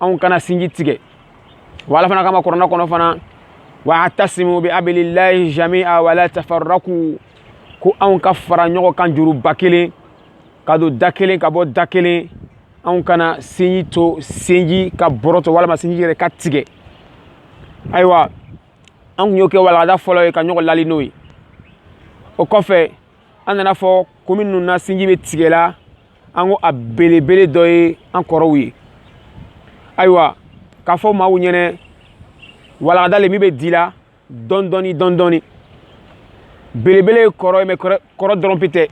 anw kana sinji tigɛ wa ala fana k'a ma kurana kɔnɔ fana wa tasimu bi abilillahi jami'a wala tafarraku ko anw ka fara ɲɔgɔn kan juruba kelen ka don da kelen ka bɔ da kelen anw kana sinji to sinji ka bɔrɔtɔ walima sinji yɛrɛ ka tigɛ ayiwa an kun y'o kɛ walagada fɔlɔ ye ka ɲɔgɔn lali n'o ye o kɔfɛ an nan'a fɔ ko minnu na sinji bɛ tigɛ la an ko a belebele dɔ ye an kɔrɔw ye ayiwa k'a fɔ maaw ɲɛnɛ walagada le min bɛ di la dɔɔni dɔɔni dɔɔni dɔɔni belebele ye kɔrɔ ye mɛ kɔrɔ dɔrɔn pe tɛ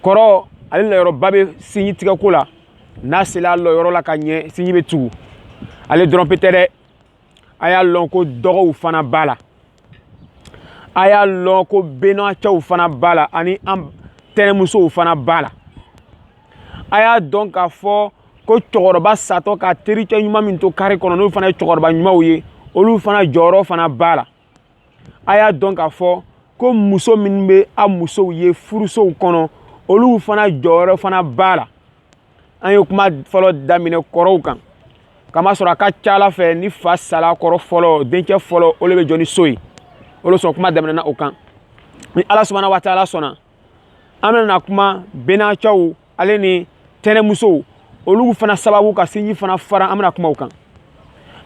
kɔrɔ ale lɔyɔrɔba bɛ sinji tigɛko la n'a sela a lɔyɔrɔ la ka ɲɛ sinji bɛ tugu ale dɔrɔn pe tɛ dɛ a y'a lɔn ko dɔgɔw fana b'a la a y'a lɔn ko bɛnacɛw fana b'a la ani an tɛnɛmusow fana b'a la a y'a dɔn k'a fɔ ko cɛkɔrɔba satɔ ka tericɛ ɲuman min to kari kɔnɔ n'olu fana ye cɛkɔrɔba ɲumanw ye olu fana jɔyɔrɔ fana b'a la a y'a dɔn k'a fɔ ko muso minnu bɛ a musow ye furusow kɔnɔ olu fana jɔyɔrɔ fana b'a la an ye kuma fɔlɔ daminɛ kɔrɔw kan k'a masɔrɔ a ka ca a la fɛ ni fa sala kɔrɔ fɔlɔ dencɛ fɔlɔ o le bɛ jɔ ni so ye o le kosɔn kuma daminɛna o kan ni ala subahana wa ta'ala sɔnna an bɛna kuma bɛnacɛw ale ni tɛnɛmusow olu fana sababu ka sinji fana fara an bɛna kuma o kan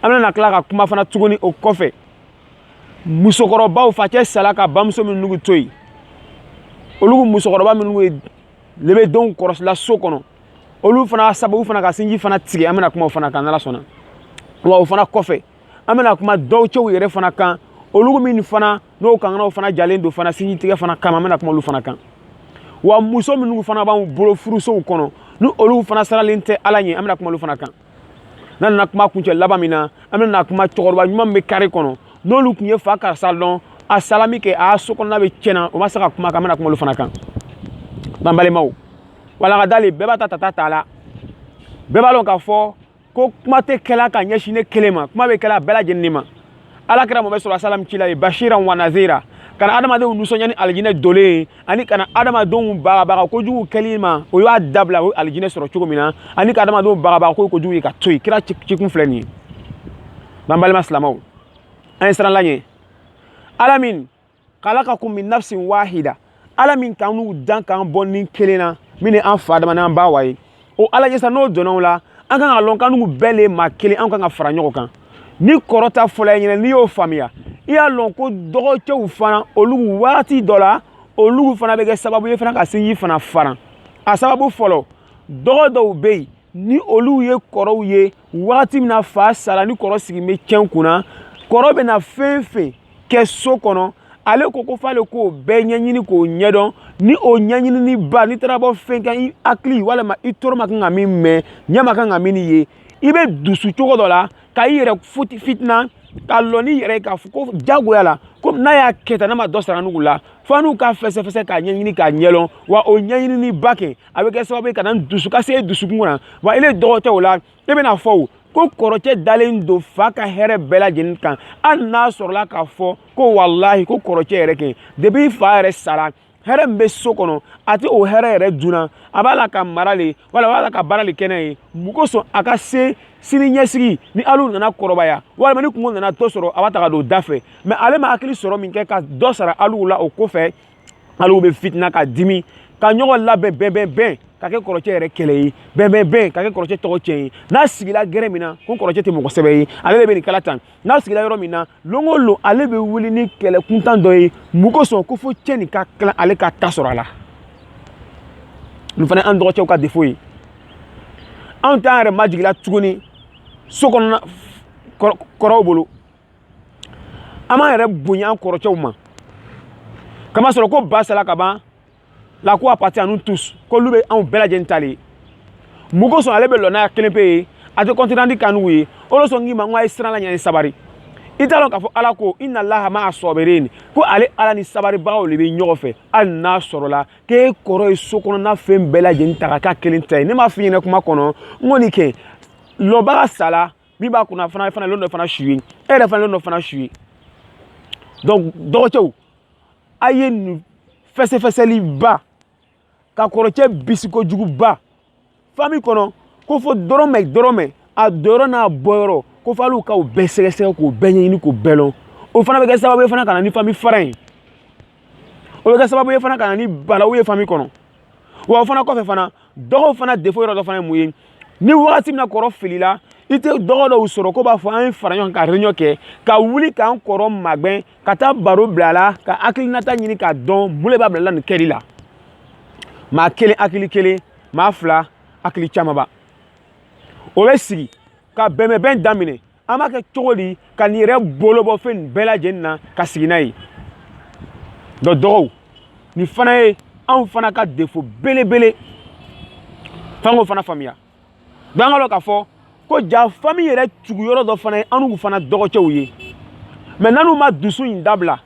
an bɛna tila ka kuma fana tuguni o kɔfɛ musokɔrɔbaw facɛ sala ka bamuso minnugu to yen olu musokɔrɔba minnu ye le bɛ denw kɔrɔsila so kɔnɔ olu fana sababu fana ka sinji fana tigɛ an bɛna kuma o fana kan n'ala sɔnna wa o fana kɔfɛ an bɛna kuma dɔgɔcɛw yɛrɛ fana kan olu min fana n'o kanganaw fana jalen don fana sinji tigɛ fana kama an bɛna kuma olu fana kan wa muso minnu fana b'anw bolo furusow kɔnɔ ni olu fana siranlen tɛ ala ɲɛ an bɛna kuma olu fana kan n'an nana kuma kuncɛ laban min na an bɛna kuma cɛkɔrɔba ɲuman min bɛ kari kɔnɔ n'olu tun ye fa karisa dɔn a sala min kɛ a so kɔnɔna bɛ tiɲɛna o ma se ka kuma kan an bɛna kuma olu fana kan ban balimaw walagada le bɛɛ b'a ta tata t'a la bɛɛ b'a dɔn k'a fɔ ko kuma tɛ kɛla ka ɲɛsin ne kelen ma kuma bɛ kɛla bɛɛ lajɛlen de ma ala kira mamadu sɔrɔ salam cila ye bashira wa nazira ka na adamadenw nisɔndiya ni alijinɛ donli ye ani ka na adamadenw bagabaga kojugu kɛli ma o y'a dabila o ye alijinɛ sɔrɔ cogo min na ani ka adamadenw bagabaga ko kojugu ye ka to yen kira cikun filɛ nin ye n'an balima silamɛw an ye siran ala ye ala min kalakakum min nafsin wahida ala min k'annu dan k'an bɔ ni kelen na min ye an fa adama n'an ba awa ye o ala ye sa n'o dɔnnaw la an kan ka lɔn k'annu bɛɛ le maa kelen an kan ka fara ɲɔgɔn kan ni kɔrɔ ta fɔlɔ ye ɲɛna n'i y'o faamuya i y'a lɔn ko dɔgɔcɛw fana olu waati dɔ la olu fana bɛ kɛ sababu ye fana ka sinji fana faran a sababu fɔlɔ dɔgɔ dɔw bɛ yen ni olu ye kɔrɔw ye wagati min na fa sara ni kɔrɔ sigilen bɛ cɛn kunna kɔrɔ bɛ na fɛn fɛn kɛ so kɔnɔ ale ko ko f'ale k'o bɛɛ ɲɛɲini k'o ɲɛdɔn ni o ɲɛɲininiba n'i taara bɔ fɛn kan i hakili walima i tolo ma kan ka min mɛn ɲɛ ma kan ka min ye i bɛ dusu cogo dɔ la ka i yɛrɛ fitina ka lɔ n'i yɛrɛ ye k'a fɔ ko jagoya la ko n'a y'a kɛ tan n'a ma dɔ sara annu la fo annu ka fɛsɛfɛsɛ k'a ɲɛɲini k'a ɲɛdɔn wa o ɲɛɲininiba kɛ a bɛ kɛ sababu ye ka na dusu ka se dusukun na wa ale dɔgɔcɛ o la ne bɛna fɔ o ko kɔrɔcɛ dalen don fa ka hɛrɛ bɛɛ lajɛlen kan hali n'a sɔrɔla k'a fɔ ko walahi ko kɔrɔcɛ yɛrɛ kɛ depuis fa yɛrɛ sara hɛrɛ min bɛ so kɔnɔ a tɛ o hɛrɛ yɛrɛ dunna a b'a la ka mara le wala a b'a la ka baara le kɛ n'a ye mun kosɔn a ka se sini ɲɛsigi ni alu nana kɔrɔbaya walima ni kunko nana dɔ sɔrɔ a b'a ta ka don da fɛ mais ale ma hakili sɔrɔ min kɛ ka dɔ sara alu la o ko fɛ alu bɛ fitina ka dimi ka ɲɔgɔn labɛn bɛn bɛn bɛn ka kɛ kɔrɔcɛ yɛrɛ kɛlɛ ye bɛn bɛn bɛn ka kɛ kɔrɔcɛ tɔgɔ cɛn ye n'a sigila gɛrɛn min na ko kɔrɔcɛ tɛ mɔgɔ sɛbɛ ye ale de bɛ nin kɛ la tan n'a sigila yɔrɔ min na don o don ale bɛ wuli ni kɛlɛ kuntan dɔ ye mun kosɔn ko fo cɛn in ka tila ale ka ta sɔrɔ a la nin fana an dɔgɔcɛw ka défaut ye anw t'an yɛrɛ majigila tuguni so kɔnɔna kɔrɔw bolo an b'an yɛrɛ bonya an kɔrɔcɛw ma k'a masɔrɔ ko ba sala ka ban la ko appartient à nous tous k'olu bɛ anw bɛɛ lajɛlen ta de ye mun kosɔn ale bɛ lɔ n'a kelen pe ye a tɛ compte rendu k'annu ye o de sɔn k'i ma n ko a ye siran ala ɲɛ ni sabari i t'a dɔn k'a fɔ ala ko inallaha ma'a sabirina ko ale ala ni sabaribagaw de bɛ ɲɔgɔn fɛ hali n'a sɔrɔla k'e kɔrɔ ye so kɔnɔna fɛn bɛɛ lajɛlen ta ka k'a kelen ta ye ne m'a f'i ɲɛna kuma kɔnɔ n ko nin kɛ lɔbaga sala min b'a kunna fana fana lon dɔ fana su ye e yɛrɛ fana lon dɔ fana su ye donc dɔgɔcɛw a ye nin fɛsɛfɛsɛliba ka kɔrɔcɛ bisigi kojuguba fami kɔnɔ ko fo dɔrɔmɛ dɔrɔmɛ a donyɔrɔ n'a bɔyɔrɔ ko fo alu ka o bɛɛ sɛgɛsɛgɛ k'o bɛɛ ɲɛɲini k'o bɛɛ lɔn o fana bɛ kɛ sababu ye fana ka na ni fami fara ye o bɛ kɛ sababu ye fana ka na ni balawu ye fami kɔnɔ wa o fana kɔfɛ fana dɔgɔw fana défaut yɔrɔ dɔ fana ye mun ye ni wagati min na kɔrɔ filila i tɛ dɔgɔ dɔw sɔrɔ k'o b'a fɔ an ye fara ɲɔgɔn kan ka réunion kɛ ka wuli k'an kɔrɔ magɛn ka taa baro bila a la ka hakilinata ɲini k'a dɔn mun de b'a bila nin kɛli la maa kelen hakili kelen maa fila hakili camanba o bɛ sigi ka bɛnbɛnbɛn daminɛ an b'a kɛ cogo di ka nin yɛrɛ bolo bɔ fɛn bɛɛ lajɛlen na ka sigi n'a ye dɔ dɔgɔw nin fana ye anw fana ka défaut belebele f'an k'o fana faamuya donc an k'a dɔn k'a fɔ ko ja fami yɛrɛ tugu yɔrɔ dɔ fana ye annu fana dɔgɔcɛw ye mais n'annu ma dusu in dabila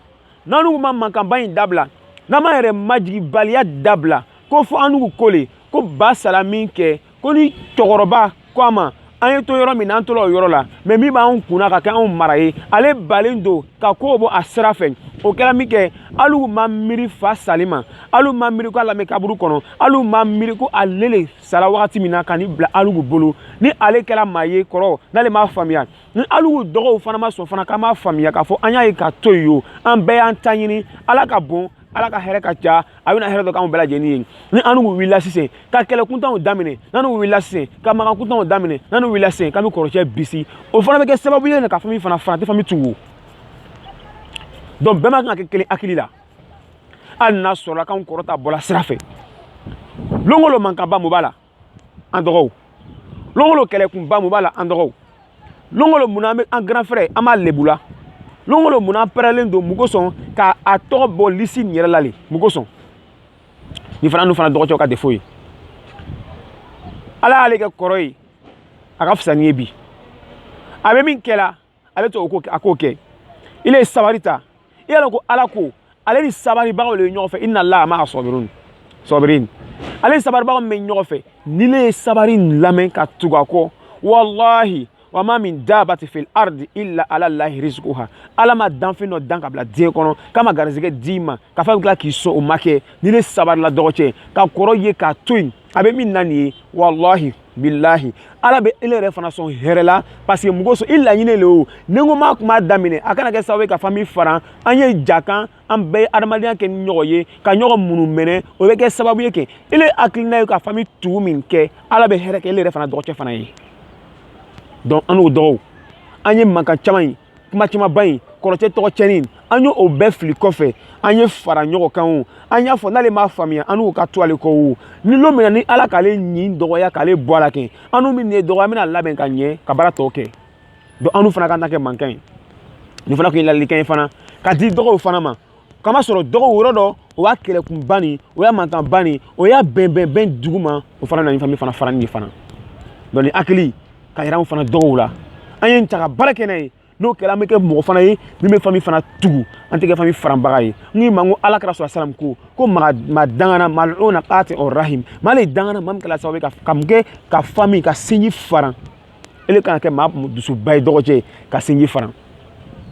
n'annu ma mankanba in dabila n'an m'an yɛrɛ majigibaliya dabila ko fɔ annu ko le ko ba sara min kɛ ko ni cɛkɔrɔba ko an ma an ye to yɔrɔ min na an tola o yɔrɔ la mais min b'an kunna ka kɛ anw mara ye ale balen don ka kow bɔ a sira fɛ o kɛra min kɛ alugu ma miiri fa salen ma alugu ma miiri ko a lanɛn kaburu kɔnɔ alugu ma miiri ko ale le sara wagati min na ka ni bila alugu bolo ni ale kɛra maa ye kɔrɔ n'ale m'a faamuya ni alugu dɔgɔw fana ma sɔn fana k'an m'a faamuya k'a fɔ an y'a ye k'a to yen o an bɛɛ y'an ta ɲini ala ka bon ala ka hɛrɛ ka ca a bɛna hɛrɛ dɔ k'anw bɛɛ lajɛlen ye ni annu wulila sisan ka kɛlɛ kuntanw daminɛ n'annu wulila sisan ka mankan kuntanw daminɛ n'annu wulila sisan k'an bɛ kɔrɔcɛ bisi o fana bɛ kɛ sababu ye ka fami faran faran tɛ fami tugu donc bɛɛ man kan ka kɛ kelen hakili la hali n'a sɔrɔla k'anw kɔrɔ ta bɔla sira fɛ lon o lon mankanba mun b'a la an dɔgɔw lon o lon kɛlɛkunba mun b'a la an dɔgɔw lon o lon mun an bɛ an grand frère an b'a lebu la lon o lon mun an pɛrɛlen don mun kosɔn ka a tɔgɔ bɔ lisi nin yɛrɛ la le mun kosɔn nin fana annu fana dɔgɔcɛw ka défaut ye ala y'ale kɛ kɔrɔ ye a ka fisa ni ye bi a bɛ min kɛla ale to a k'o kɛ ile sabari ta i y'a dɔn ko ala ko ale ni sabaribagaw de ye ɲɔgɔn fɛ innallaha ma'a sabirin ale ni sabaribagaw bɛ ɲɔgɔn fɛ n'ile ye sabari lamɛn ka tugu a kɔ walahi wa ma min dabati fil ardi illa ala lahi rizquha ala ma danfɛn dɔ dan ka bila diɲɛ kɔnɔ k'a ma garisɛgɛ d'i ma ka fa tila k'i sɔn o ma kɛ n'ile sabarila dɔgɔcɛ ka kɔrɔ ye k'a to yen a bɛ min na nin ye walahi bilahi ala bɛ ele yɛrɛ fana sɔn hɛrɛ la parce que mun kosɔn i laɲini le o ni n ko m'a kuma daminɛ a kana kɛ sababu ye ka fami faran an ye ja kan an bɛɛ ye adamadenya kɛ ni ɲɔgɔn ye ka ɲɔgɔn minɛminɛ o bɛ kɛ sababu ye kɛ ele hakilina ye ka fami tugu min kɛ ala bɛ hɛrɛ kɛ ele yɛrɛ fana dɔgɔcɛ fana ye donc annu dɔgɔw an ye mankan caman ye kuma camanba in kɔrɔcɛ tɔgɔ cɛnin an ye o bɛɛ fili kɔfɛ an ye fara ɲɔgɔn kan o an y'a fɔ n'ale m'a faamuya annu ka tugu ale kɔ o ni lon min na ni ala k'ale ɲin dɔgɔya k'ale bɔ a la kɛ annu min ne dɔgɔ ye an bɛna labɛn ka ɲɛ ka baara tɔ kɛ donc annu fana kana kɛ mankan ye nin fana tun ye ladilikan ye fana ka di dɔgɔw fana ma k'a masɔrɔ dɔgɔw rɔ dɔ o y'a kɛlɛkun ban nin o y'a mankan ban nin o y'a bɛn bɛn bɛn dugu ma o fana nana ni fami fana fara nin fana dɔn ni hakili ka yɛrɛ fana dɔgɔw la an ye nin ta ka baara kɛ n'a ye n'o kɛra an bɛ kɛ mɔgɔ fana ye min bɛ fami fana tugu an tɛ kɛ fami faranbaga ye n k'i ma ko ala kira sɔrɔ salam ko ko maa maa dangana maa o na katiu rahim maa le dangana maa min kɛra sababu ye ka ka mun kɛ ka fami ka sinji faran ele kana kɛ maa dusuba ye dɔgɔcɛ ye ka sinji faran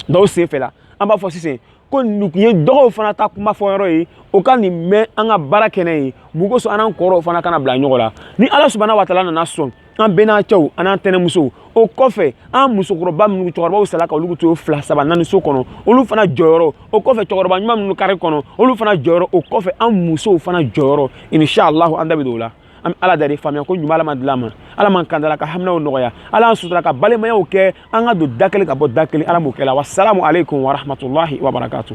dɔw senfɛ la an b'a fɔ sisan ko nin kun ye dɔgɔw fana ta kuma fɔ yɔrɔ ye o ka nin mɛn an ka baara kɛ n'a ye mun kosɔn an n'an kɔrɔw fana kana bila ɲɔgɔn la ni ala subahana wa taala nana sɔn an bɛnaacɛw an'an tɛnɛmusow o kɔfɛ an musokɔrɔba minnu cɛkɔrɔbaw sala ka olu to fila saba naani so kɔnɔ olu fana jɔyɔrɔ o kɔfɛ cɛkɔrɔba ɲuman minnu kari kɔnɔ olu fana jɔyɔrɔ o kɔfɛ an musow fana jɔyɔrɔ inshallah an da bɛ don o la an bɛ ala dali faamuya ko ɲuman ala m'a di l'an ma ala m'an kanda la ka haminaw nɔgɔya ala an sutura ka balimayaw kɛ an ka don da kelen ka bɔ da kelen ala m'o kɛ la wasalamu aleykum warahmatulahi wabarakatu